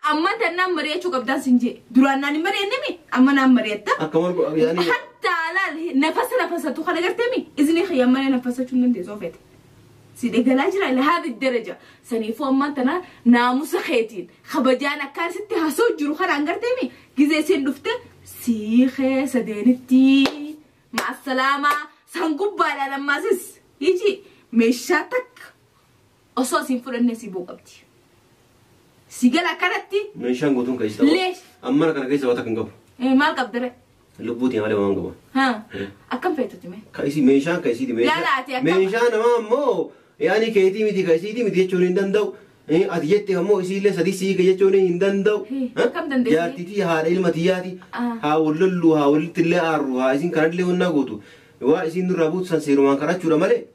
Amman tan naan mari'achuu qabdaan sin jee. Duraan naan hin mari'anne mi? Amma naan mari'atta. Akka morgo yaani Hatta laal nafasa nafasatu kana gartee mi? Izni kiyya malee nafasachuu hin dandeessu ofeete. Si dhegalaa jira ila haadhi daraja. Saniifuu ammaan tana naamusa keetiin kabajaan akkaan sitti hasoo jiru kanaan gartee mi? Gizee isiin dhufte sii keessa deenitti. Maassalaamaa san gubbaadhaan ammaasis. Iji meeshaa takka. Osoo siin fudhannee si boo qabdi. Si gala akkanatti Meeshaan guutuun keessa ta'u. Leesh. Ammana kana keessa wata kan qabu. eh, maal qabdare? Lubbuutiin malee waan qabu. Ha? Akkam feetuti mee? Ka isii meeshaan ka isiiti meeshaa. Laala ati akkam- Meeshaa namaa ammoo yaani keetii miti ka isiiti miti jechuun hin danda'u. Eh, Ati jette ammoo isiillee sadii sii ka jechuun hin danda'u. Hii, Ha? akkam dandeessi? Jaartitii haadha ilma tiyyaati. Ah. Haa wal lollu haa walitti illee aarru haa isin kanallee wannaa gootu. Waa isin nurraa buutu san seerumaan kadhachuudha malee.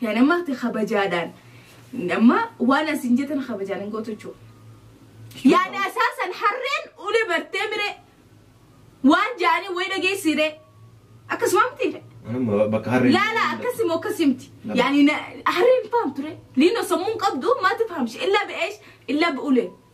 Yaa nama ati kabajaadhaan amma waan asin jetan kabajaan hin gootu jechuudha. Yaada asaasan harreen ulee bartee miree waan jaanii wayii dhageessiiree akkasuma miti Amma bakka harree. laala akkasimo akkasimti Nama. yaani na- harreen fahamtu re liino sammuun qabdu maati fahamshi illa be'eesh illa be'ule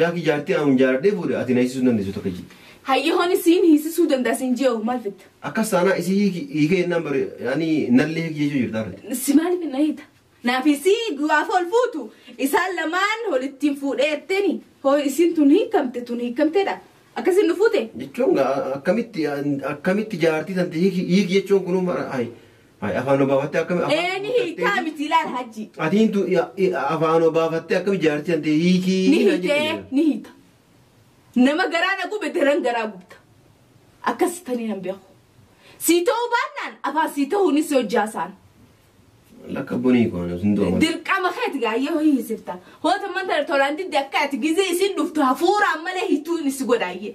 Laaki jaartii aanuun jaaladhee fuudhe ati na hiisisuu hin dandeessu takka jii. Hayyi honi siin hiisisuu danda'a siin jee'u maal fitta? Akkas taanaa isii hiiki hiikee jennaan bari ani nallee hiiki jechuu jirtaa ree. Si maaliif na hiita? Naaf isii du'aaf ol fuutu isaan lamaan holittiin fuudhee jetteni hoo isiin tun hiikamte tun hiikamteedha akkasiin nu fuute? Jechuun gaa akkamitti akkamitti jaartii tante hiiki hiiki jechuun kunuu mara ayi Ay, afaan obaafattee akkami afaan Ee ni hiikaa obaafattee- miti ilaal hajji. Ati hintu afaan obaafattee akkami jaartii antee hiikii Ni na hiitee jedhe. ni hiita. Nama garaa na gube daran garaa gubta. Akkas tanii nan beeku. Sii ta'uu baannaan afaan sii ta'uunis hojjaa isaan. Lakka bunii koona sun dooma. Dirqama keeti gaayyoo hin hisifta. Hoota manta tolaan didde akka ati gizee isin dhuftu hafuuraan malee hituun isi godhaayyee.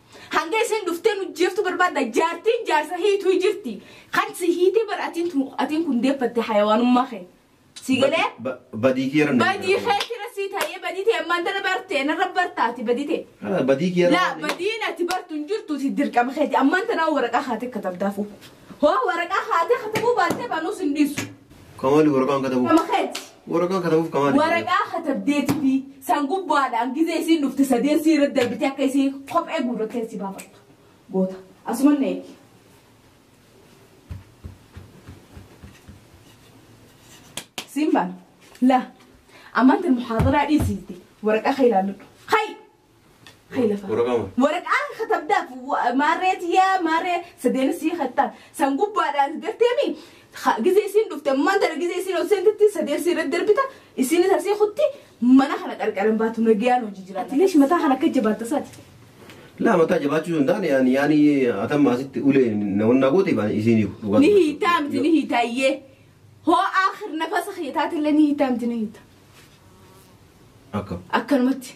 Hanga isin dhuftee nu jeeftu barbaadda jaartiin jaarsa hiituu jirti. Kan si hiitee bar atiin tun atiin kun deeffatte hayawaanummaa kee. Si galee Ba- Badii kee irra badii kee tira si ta'ee badii ta'e ammaan tana barte narra bartaati badii ta'e. Badii kee irra Laa badiin ati bartu hin jirtu si dirqama keeti ammaan tana waraqaa kaatee katabdaafuu. Hoo waraqaa haatee katabuu baattee baanuu sin dhiisu. Kamaali waraqaan katabuuf. Kama keeti. Waraqaan katabuuf kamaali. Waraqaa katabdeetii fi san gubbaadhaan gizee isiin dhufte sadeen sii irra darbitee akka isii kophee guurrattee si baafattu. Goota. Asuma na eegi. Siin baan. La. Ammaan tan muhaadaraa dhiisiitti waraqaa kee ilaalladhu. Hay! Kaylafa. Waraqaa maal? Waraqaa katabdaaf wa- maarree tiyyaa maarree sadeen sii kattaa san gubbaadhaan garteemi gizee isiin dhufte ammaan tana gizee isiin ol seentetti sadeen sii irratti darbita isiin isa sii kutti mana kana qarqaran baatu nagayaan hojii jira. Atileesh mataa kana akka jabaatta isaati. Laa mataa jabaachuu hin taane yaani yaani atamma asitti ulee nawannaa goote baane isiin hiiku. dhugaa Ni dubbachuuf. hiitaa miti ni hiitaa iyyee hoo aakhir nafasa kiyya taatellee ni hiitaa miti ni hiitaa Akka. akkanumatti.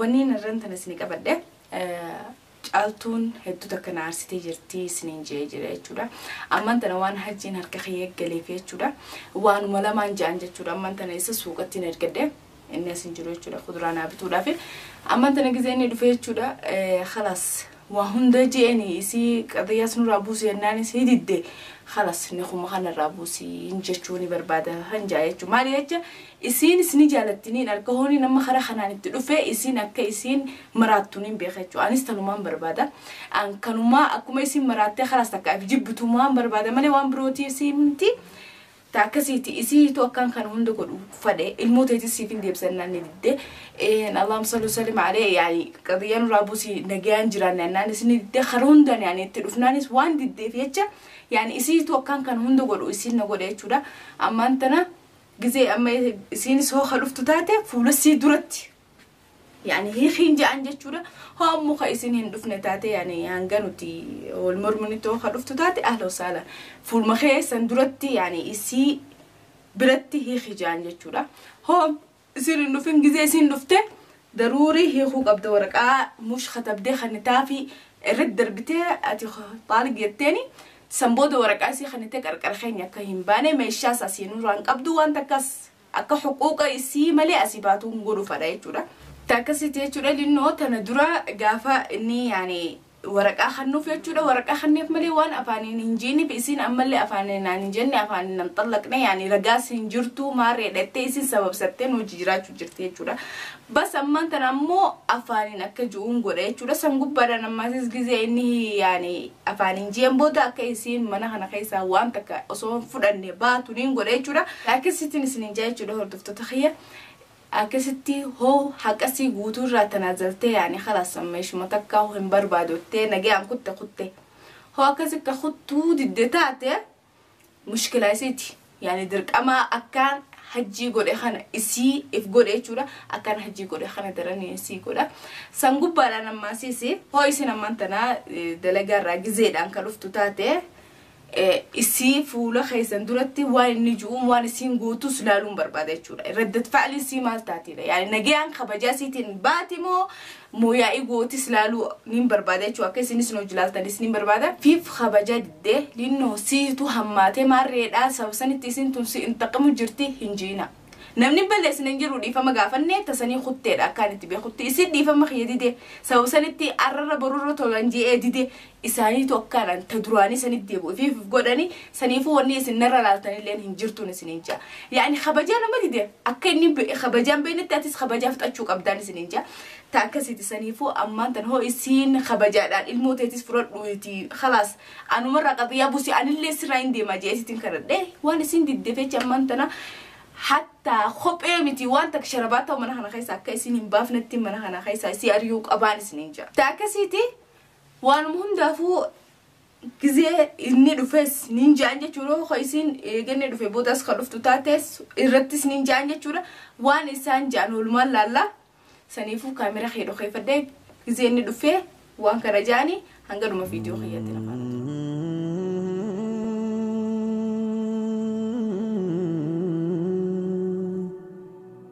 Wanniin harran tana isini qabadhe caaltuun hedduu takka na aarsitee jirti isiniin je'ee jira jechuudha. Amman tana waan hajjiin harka kiyya eeggaleef jechuudha. Waanuma lamaan ja'an jechuudha. Amman tana isa suuqatti hin ergadhe inni as hin jiru jechuudha. Kuduraa naa bituudhaaf. Amman tana gizee inni dhufe jechuudha. Khalaas Waa hunda je'eni isii qadiyyaas nurraa buusi jennaan isii didde khalas nikuma kana irraa buusi hin jechuu ni barbaada hin ja'a jechuu maali jecha isiinis ni jaalatti niin arka hooni nama kara kanaan itti dhufe isiin akka isiin maraattu niin beeka jechuu anis tanumaan barbaada an kanumaa akkuma isiin maraattee khalas takka if jibbitumaan barbaada malee waan birootii isiin miti ta akkasiiti isiitu akkaan kan hunda godhu fadhe ilmoo teetis siifin deebisa innaan ni didde een allaahum salli wasallim alee yaani qadiyyaa nurraa buusi nagayaan jiraanne annaanis ni didde kan hundaan yaani itti dhufnaanis waan diddeef jecha yaani isiitu akkaan kan hunda godhu isiin na godhe jechuudha ammaan tana gizee amma isiinis hoo ka dhuftu taate fuula sii duratti yani hiikiin ja'an jechuudha hoommu ka isin hin dhufne taate yani hanga nuti wal morminitti hoo ka dhuftu taate ahla wasaala fuulma keessan duratti yani isii biratti hiiki ja'an jechuudha hoo isin hin dhufin gizee isin dhufte daruurii hiikuu qabda waraqaa mush katabdee kannitaafi irratti darbitee ati xaaliq jetteeni san booda waraqaa isii kannitee qarqara keenya akka hin baane meeshaa isaa siinuu waan qabdu waan takkas akka huquuqa isii malee asii baatuu hin godhu fadha jechuudha. Ta akkasitti jechuudha linnoo tana dura gaafa inni yaani waraqaa kannuuf jechuudha waraqaa kanneef malee waan afaaniin hin jiiniif isiin ammallee afaaniin naan hin jenne afaaniin nan xallaqne yaani ragaas hin jirtu maarree dhattee isiin sababsattee nu wajji jiraachuu jirti jechuudha Bas ammaan tana ammoo afaaniin akka ju'uun godha jechuudha. San gubbaadhaan ammaasis gizee inni yaani afaaniin ji'een booda akka isiin mana kana keessaa waan takka osoo hin fudhanne baatu niin godha jechuudha. Akkasittiin isiniin jaa jechuudha hordoftoota kiyya. Akkasitti hoo haqasii guutuu irraa tanaa zaltee yaani kalaas amma ishuma takkaa hin barbaadottee nagayaan kutte kutte. Hoo akkasitti kuttuu didde taate mushkila isiiti yani dirqama akkaan hajjii godhe kana isii if godhe jechuudha akkaan hajjii godhe kana daranii isii godha san gubbaadhaan ammaa siisi hoo isin ammaan tanaa dalagaa irraa gizeedhaan ka dhuftu taate isii fuula keessan duratti waan inni ju'uun waan isiin gootus laaluun barbaada jechuudha. Raddat fa'alii isii maal taatiidha? Yaani nagayaan kabajaa isiitiin baati moo Moo yaa'ii gootis laaluu nin barbaada jechuudha akka isinis nu hojii laaltanis nin barbaada. Fiif kabajaa didde linnoo siitu hammaate maarreedhaa sababa sanitti isin tun si intaqimu jirti hin jiina. Namni balleessine hin jiru dhiifama gaafanne tasanii kutteedha akkaan itti beekutti isin dhiifama kiyya dide sababa sanitti arrarra borurra tolan je'ee dide isaaniitu akkaadhaan ta duraanii sanitti deebi'u ifiif if godhani saniifuu wanni isin narra laaltan illeen hin jirtuun isiniin jaa yaani kabajaa nama dide akka inni be- kabajaan beeknetti atis kabajaa fudhachuu qabdaan isiniin jaa ta akkasiiti saniifuu ammaan tan hoo isiin kabajaadhaan ilmoo teetis fudhadhu iti khalaas anumarraa qaxiyaa busi anillee sirraa hin deemaa jee isitin kadhadhe waan isin didde fecha ammaan tana hatta kophee miti waan takka sharabaa ta'u mana kana keessa akka isin hin baafnetti mana kana keessa isii ari'uu qabaan isiniin jaa ta akkasiiti Waanuma hundaafuu gizee inni dhufes niin ja'an jechuudha yoo ka isiin eegannee dhufe boodas ka dhuftu taates irrattis niin ja'an jechuudha waan isaan ja'an oolmaan laallaa saniifuu kaamera kee dhokeeffadhee gizee inni dhufee waan kana ja'ani hanga dhuma viidiyoo kiyyaatti na faana tura.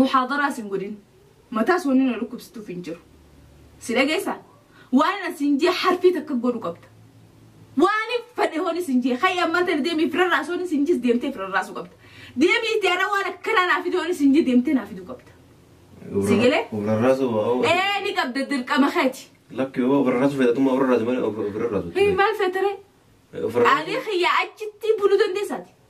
muhaadaraas hin godhin mataas wanni na dhukkubsituuf hin jiru si dhageessa waan na siin jee harfii takka godhu qabda waan fedhe hooni siin jee hayya ammaa tana deemii firarraas hooni siin jees deemtee firarraasuu qabda deemii itti ara waan akkanaa naa fide hooni siin jee deemtee naa fiduu qabda Sigilee? Ofirarraasu ee ni qabda dirqama keeti lakki yoo ofirarraasu fayyadamummaa ofirarraasu malee ofirarraasu. hii maal feetaree Ofirarraasu. Ani kiyya achitti buluu dandeessaati.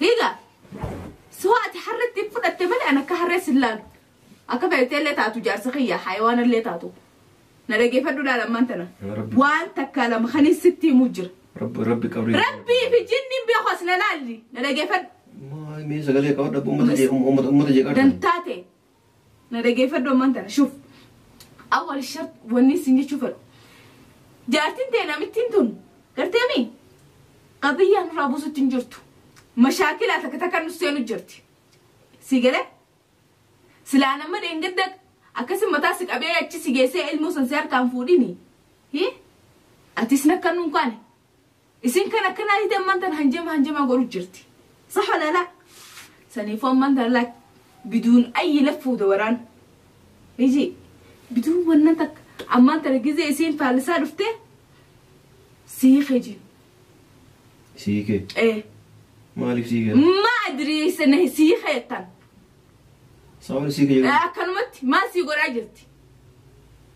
Higa. Suwa ati harreetti hin fudhatte malee an akka harree sin laalu. Akka feetee illee taatu jaarsa kiyya hayawaana illee taatu. Na dhageeffadhu laala ammaan tana. Yaa Rabbi. Waan takkaa lama kan hin sitti himuu jira. Rabbi rabbi qabri. Rabbii fi jinniin beeku as na laalli. Na dhageeffadhu. Mee sagalee qabadha uummata jee uummata uummata jee qabadha. Dantaate na dhageeffadhu ammaan tana shuf awwal shart wanni sin jechuu fedhu jaartiin tee namittiin tun garteemi qadiyyaa nurraa buusutti hin jirtu mashaakilaa takka takka nu seenu jirti si galee silaa nama dheengadda akkasi mataa si qabee achi si geessee ilmoo san si harkaan fuudhini hi atis nakkan nun kaane Isin kan akkanaa hidhan man tan hanjama hanjama godhu jirti. Sah wala la. Sanifu amman tan lak biduun ayyi laffu dawaran. Iji biduun wannan tak amman tan gize isin faallisaa dhufte sii kejin. Sii kee. Eh. Maaliif sii kee? Ma adri sana sii ketan. Saawwan sii kee. Akkanumatti maal sii godhaa jirti?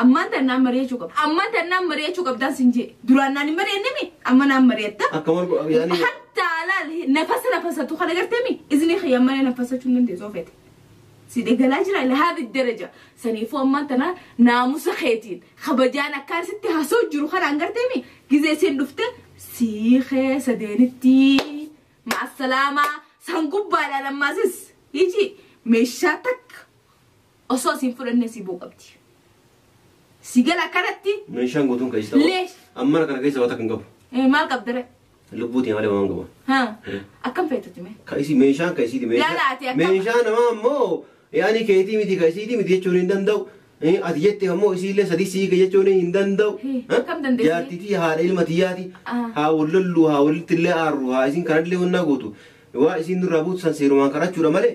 Ammaan tan naan mari'achuu qabda. Ammaan tan naan mari'achuu qabdaan sin jee. Duraan naan hin mari'anne mi? Amma naan mari'atta. Akka margu yaani Hatta laal nafasa nafasatu kana gartee mi? Izni kiyya malee nafasachuu hin dandeessu ofeete. Si degalaa jira lahaadi daraja. Saniifuu ammaan tana naamusa keetiin kabajaan akkaan sitti hasoo jiru kanaan gartee mi? Gizee siin dhufte sii keessa deenitti. Ma'assalaamaa san gubbaadhaan ammaasis. Iji meeshaa takka Osoo siin fudhannee si boo qabdi. Si gala akkanatti Meeshaan guutuun keessa ta'u. Lees. Ammana kana keessa wata kan qabu. eh, maal qabdare? Lubbuutiin malee waan qabu. Ha? Akkam feetutti mee? Ka isii meeshaan ka isiiti meeshaa. Laala ati akkam- Meeshaa namaa ammoo yaani keetii miti ka isiiti miti jechuun hin danda'u. Eh, Ati jette ammoo isiillee sadii sii ka jechuun hin danda'u. Eh, Ha? kam dandeessi? Jaartitii haadha ilma tiyyaati. Ah. Haa wal lollu haa walitti illee aarru haa isin kanallee wannaa gootu. Waa isin nurraa buutu san seerumaan kadhachuudha malee.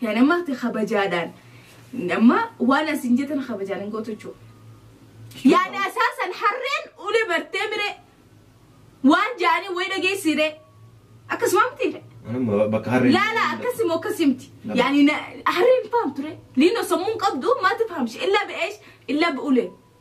Yaa nama ati kabajaadhaan amma waan asin jetan kabajaan hin gootu jechuudha. Yaada isaa san harreen ulee bartee miree waan jaanii way dhageessiiree akkasuma miti Anuma bakka harreen. laala akkasii moo akkasii miti Nama. yaani na- harreen fahamtu ree liinoo sammuun qabdu maati fahamshi illaa be'eesh illaa be'ulee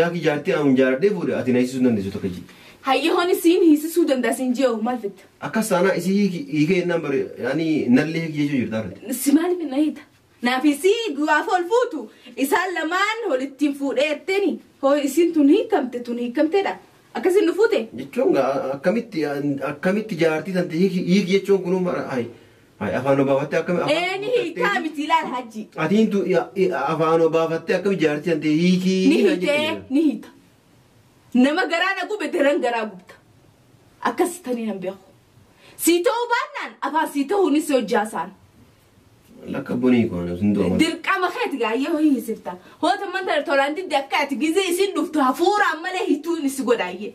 Laaki jaartii aanuun jaaladhee fuudhe ati na hiisisuu hin dandeessu takka jii. Hayyooni siin hiisisuu danda'a siin jee'u maal fitta? Akkas taanaa isii hiiki hiikee jennaan bari yaani nallee hiiki jechuu jirtaa rati. Si maaliif na hiita? Naaf isii du'aaf ol fuutu isaan lamaan olittiin fuudhee jetteni hoo isiin tun hiikamte tun hiikamteedha akkasiin nu fuute? Jechuun gaa akkamitti akkamitti jaartii tante hiiki hiiki jechuun kunuu mara ayi Ay, afaan obaafattee akkami afaan Ee ni hiikaa obaafattee- miti ilaal hajji. Ati intu afaan obaafattee akkami jaartii antee hiikii Ni hiikaa hitee jedhee. ni hita. Nama garaa na gube daran garaa gubta. Akkas tanii nan beeku. Sii ta'uu baannaan afaan sii ta'uunis hojjaa isaan. Lakka bunii koona sun du'a. Dirqama keeti gaayyoo hin hisifta. Hoota manta tolaan didde akka ati gizee isin dhuftu hafuuraan malee hituun isi godhaayyee.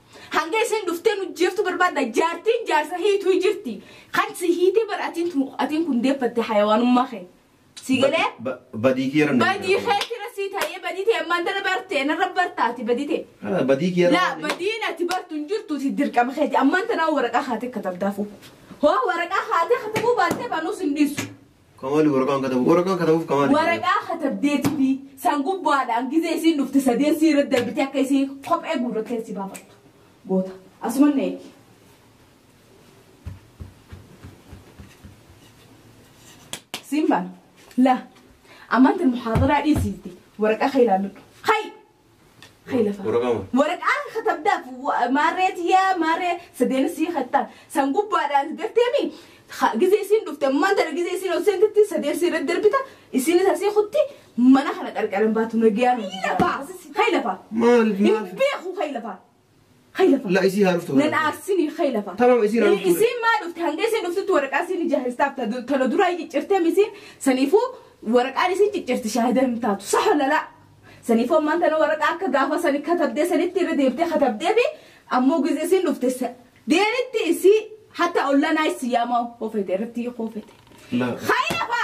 Hanga isiin dhuftee nu jeeftu barbaadda jaartiin jaarsa hiituu jirti. Kan si hiitee bar atiin tun atiin kun deeffatte hayawaanummaa kee. Si galee? Ba- Badii kiyya irra Badii kee tira sii ta'ee badii ta'e ammaan tana barte narra bartaati badii ta'e. Ah, Badii kiyya Laa irra badiin ati bartu hin jirtu si dirqama keeti ammaan tana waraqaa kaatee katabdaafuu. Hoo waraqaa kaatee katabuu baattee banuus hin dhiisu. Kamaali waraqaan katabu waraqaan katabuuf kamaali. Waraqaa katabdeetifi san gubbaadhaan gizee isiin dhufte sadeen sii irra darbite akka isii kophee guurrattee si baafattu. Goota. Asuman na eegi. Siin baana. La. Amantiin muhaadaraa dhiisiitti waraqaa kee ilaalladhu. Hayi! Hay lafa. Waraqaa moo? Waraqaan katabdaaf wa- maarree tiyyaa maarree sadeen sii kattaan san gubbaadhaan garteemi ha- gizee isiin dhufte ammaan tana gizee isiin ol seentetti sadeen sii irratti darbita isiinis asii kutti mana kana qarqaran baatu nagayaan Hay lafa. Hay lafa. Maal Hin maal? beeku hay lafa. Hay lafa. La isii haa dhuftu. Nan aarsinii hay lafa. Tamam, isiin haa dhuftu. Isiin maa dhufte hanga isiin dhuftutti waraqaa isiin ijaarsistaaf ta- tana duraa hin ciccirteem isiin saniifuu waraqaan isiin ciccirti shaahida hin taatu saha lalaa. Saniifuu ammaan tana waraqaa akka gaafa sani katabdee sanitti irra deemtee katabdee fi ammoo gizee isiin dhufte sa- deenitti isii hatta ollanaa isii yaamaa hoofete irratti hoofete. La. Hay lafa.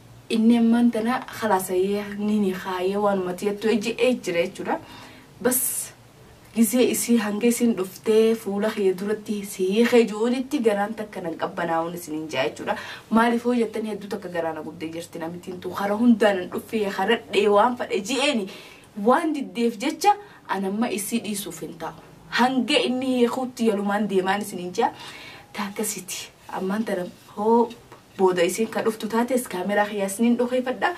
Inni ammaan tana kalaasayee ni nikaayee waanuma tiyattu ejje'ee jira jechuudha. Bas gizee isii hanga isiin dhuftee fuula kiyya duratti si hiikee ju'uunitti garaan takka nan qabbanaa'uun isiniin ja'a jechuudha. Maaliif hoo jettan hedduu takka garaa na gubdee jirti namittiin tun kara hundaa nan dhuffee karadhee waan fadhe ji'eeni waan diddeef jecha an amma isii dhiisuuf hin taa'u. Hanga inni hiikuutti yalumaan deemaan isiniin ja'a. Taakkasiti ammaan tana hoo booda isiin ka dhuftu taates kaameraa kiyyaa isiniin dhokeeffadha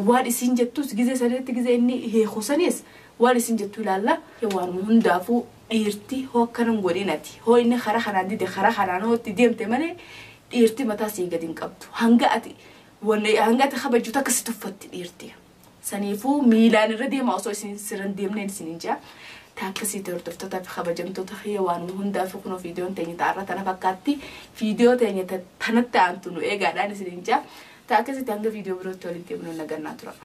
waan isiin jettus gizee sanitti gizee inni hiiku sanis waan isiin jettu ilaalla waanuma hundaafuu dhiirti hoo akkana hin godhin ati hoo inni karaa kanaan dide karaa kanaan hoo itti deemte malee dhiirti mataa sii gadi hin qabdu hanga ati wanna hanga ati kabajju takka si tuffatti dhiirti. Saniifuu miilaan irra deema osoo isin sirran deemneen isinin jaa. Taakkasii hordoftoota fi kabajamtoota kiyya waanuma hundaaf kunoo viidiyoon teenya ta'arra tana fakkaatti. Viidiyoo teenya ta- tanatti aantu nu eegaadhaan isinin jaa. Taakkasitti hanga viidiyoo birootti walitti deemnu nagannaa tura.